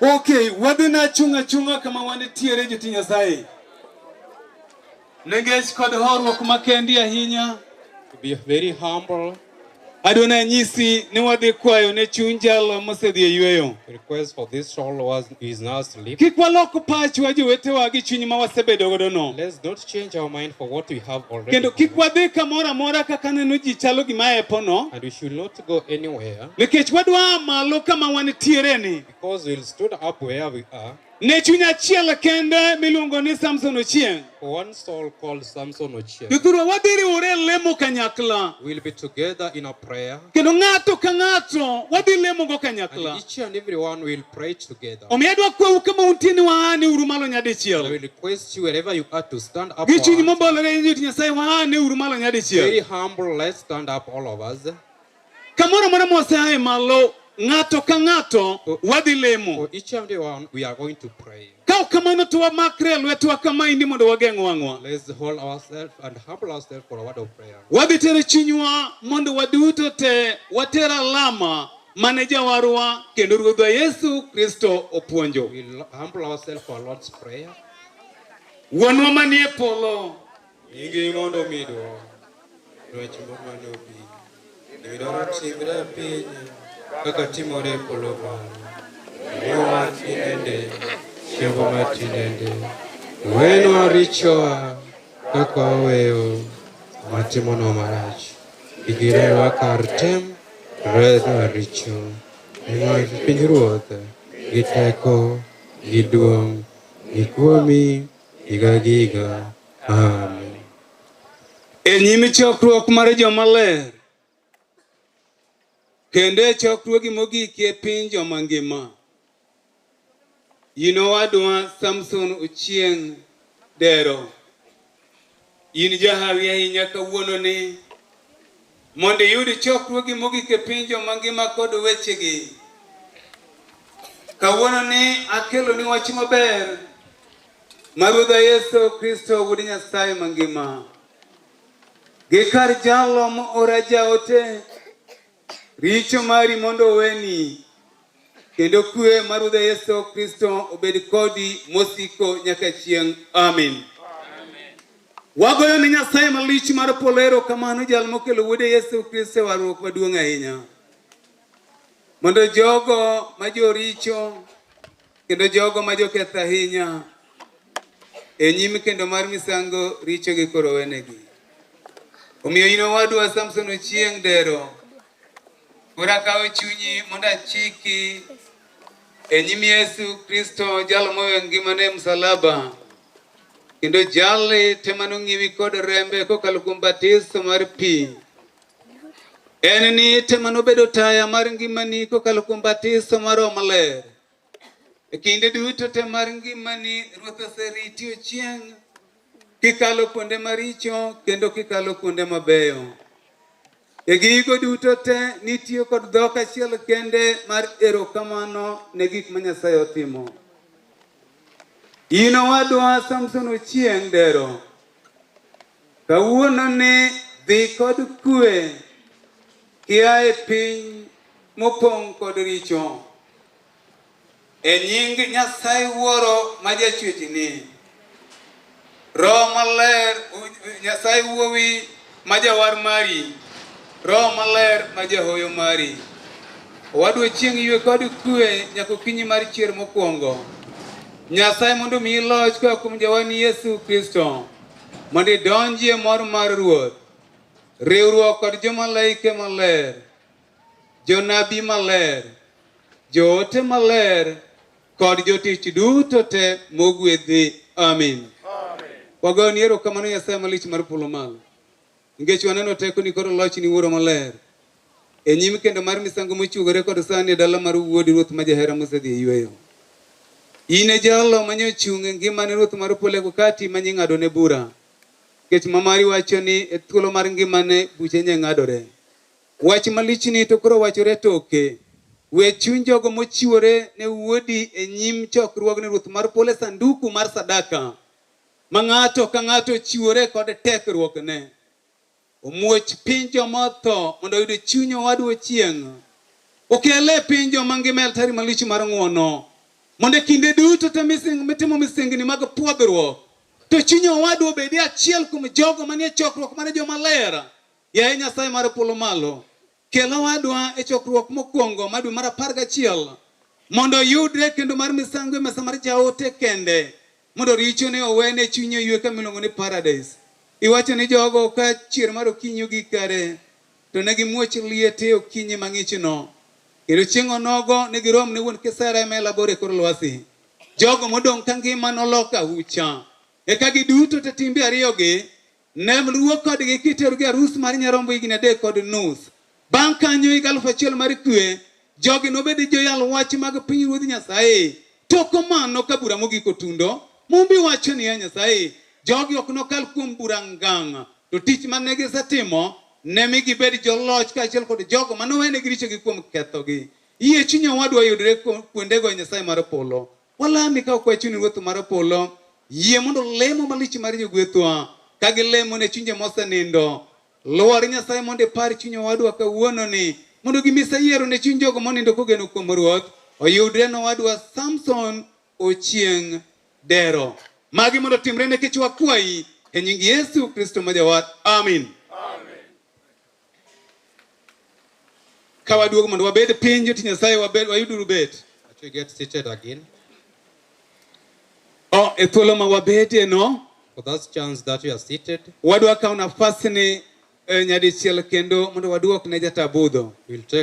Ok, wadhi na chung' achung'a kama wanitiere joti Nyasaye. Nengech kod horuok makendi ahinya. Be very humble. Adona nyisi ni wadhi kwayo ne chuny jalo mosedhi e yueyo. Request for this soul was is now asleep. Kik walok pachwa jowetewa gi chuny ma wasebedo godo no. Let's not change our mind for what we have already. Kendo kik wadhi kamoro amora kaka neno ji chalo gima epo no. And we should not to go anywhere. Nikech wadwa malo kama wantiere ni. Because we stood up where we are. Ne chuny achiel kende miluongo ni Samson Ochieng. One soul called Samson Ochieng. Kikuru wadhi riwore lemo kanyakla. We'll be together in a prayer. Kendo ng'ato ka ng'ato wadhi lemo go kanyakla. And each and every one will pray together. omiyo adwa kwau kama untie ni waane uru malo And I nyadichiel will request you wherever you are to stand up. gi chuny mobolore ni joti nyasaye waane uru malo Very nyadichiel humble, let's stand up all of us. kamoro amora moseaye malo ng'ato ka ng'ato wadhi lemo For each and every one, we are going to pray. Kaw kamano to wamakre e lwetewa kamaendi mondo wageng' wang'wa. Let's hold ourselves and humble ourselves for a word of prayer. Wadhi tero chunywa mondo waduto te water alama mane jawarwa kendo Ruodhwa Yesu Kristo opuonjo. We'll humble ourselves for our Lord's prayer. Wuonwa manie polo. Nyingi mondo mido dwach mamano bi. Midoro timre e piny kaka timore e polo malo. Miyo wach inende, chiembo wach inende. Wenwa richowa kaka waweyo matimonwa marach. Igirewa kar tem, reswa richo. Nimar pinyruoth gi teko gi duong' ni kuomi higa gi higa. Amen. E nyim chokruok mar joma ler kendo e chokruogi mogik e piny joma ngima yino wadwa Samson Ochieng' Dero In jahawi ahinya kawuononi mondo iyud chokruogi mogik e piny joma ngima kod wechegi. Kawuononi akeloni wach maber ma Ruodha Yesu Kristo Wuod Nyasaye mangima gi kar jalo moora jaote Richo mari mondo oweni, kendo kwe mar Ruodhwa Yesu Kristo obed kodi mosiko nyaka chieng'. Amin. Wagoyo ne Nyasaye malich mar polo erokamano jal mokelo Wuode Yesu Kristo e warruok maduong' ahinya, mondo jogo ma joricho Kendo jogo ma joketho ahinya e nyim kendo mar misango richogi koro wenegi. Omiyo in owadwa Samson Ochieng Dero, koro akawo chunyi mondo achiki e nyim Yesu Kristo jal mowe ngimane e msalaba kendo jali te mano ng'iwi kod rembe kokalo kuom batiso mar pi en ni te mano bedo taya mar ngimani kokalo kuom batiso mar Roho Maler E kinde duto te mar ngimani, Ruoth oseriti ochieng' kikalo kuonde maricho kendo kikalo kuonde mabeyo. E gigo duto te nitiyo kod dhok achiel kende mar erokamano ne gik ma Nyasaye otimo. In owadwa Samson Ochieng' Dero Kawuono ni dhi kod kue kia e piny mopong' kod richo. E nying Nyasaye Wuoro ma jachwechni, Roho Maler, Nyasaye Wuowi ma jawar mari, Roho Maler ma jahoyo mari. Wadwa chieng' ywe kod kue nyaka okinyi mar chier mokwongo. Nyasaye mondo omiyi loch koa kuom Jawani Yesu Kristo. Mondo idonjie mor mar Ruoth, riwruok kod jomalaike maler, jonabi maler, joote maler, kod jotich duto te mogwedhi. Amin. Wagoni erokamano Nyasaye malich mar polo malo. Nikech waneno tekoni kod lochni Wuoro Maler, e nyim kendo mar misango mochwogore kod sani e dala mar Wuodi Ruoth ma jahera mosedhi e yueyo. In e jalo ma nyochung' e ngimane Ruoth mar polo eko kati ma nying'adone bura. Nikech ma mari wacho ni e thuolo mar ngimane buche nyeng'adore. Wach malichni to koro wachore toke. We chuny jogo mochiwore ne Wuodi e nyim chokruogni Ruoth mar polo e sanduku mar sadaka. ma ng'ato ka ng'ato ochiwore kod tekruokne omuoch piny joma otho mondo oyud chuny owadwa ochieng' okele e piny joma ngima altari malich mar ng'wono mondo e kinde duto te mitimo misengni mag pwodhruok to chuny owadwa obedi achiel kuom jogo manie chokruok mar jomaler yaye nyasaye mar polo malo Kel owadwa e chokruok mokwongo ma dwe mar apar gachiel mondo oyudre kendo mar misango e mesa mar jaote kende mondo richone owene chunye oyue kama iluongo ni paradis. Iwacho ni jogo ka chier mar okinyi ogik kare to ne gimuoch liete okinyi mang'ichno kendo chieng' onogo ne girom ne wuon kisera ema elabor e kor lwasi. Jogo modong' ka ngima nolok ahucha eka giduto te timbe ariyogi Nem luwo kodgi kiterogi e arus mar nyarombo higni adek kod nus. Bang' kanyo higa alufu achiel mar kwe, jogi nobed joyal wach mag pinyruodh Nyasaye. Tok mano ka bura mogik otundo, Mumbi wacho niya, Nyasaye, jogi ok nokal kuom bura ngang', to tich mane gisetimo ne mi gibed joloch kaachiel kod jogo manowenegi richogi kuom kethogi. Yie chuny owadwa yudre kuondego e Nyasaye mar polo. Walami ka wakwayo chuny Ruoth mar polo, yie mondo lemo malich mar jogwethwa ka gilemo ne chunje mosenindo. Lwar Nyasaye mondo ipar chuny owadwa kawuononi mondo gimise yiero ne chuny jogo monindo kogeno kuom Ruoth oyudre ne owadwa Samson Ochieng' Dero. Magi mondo otimre nikech wakwayi e nying Yesu Kristo ma Jawar. Amin. Ka waduogo mondo wabed piny joti Nyasaye wabed wayuduru bet. That we get seated again. Oh, e thuolo ma wabedie no, For that chance that we are seated, wadwa kawo nafasni eh, nyadichiel kendo mondo waduok ne jatabudho. we'll take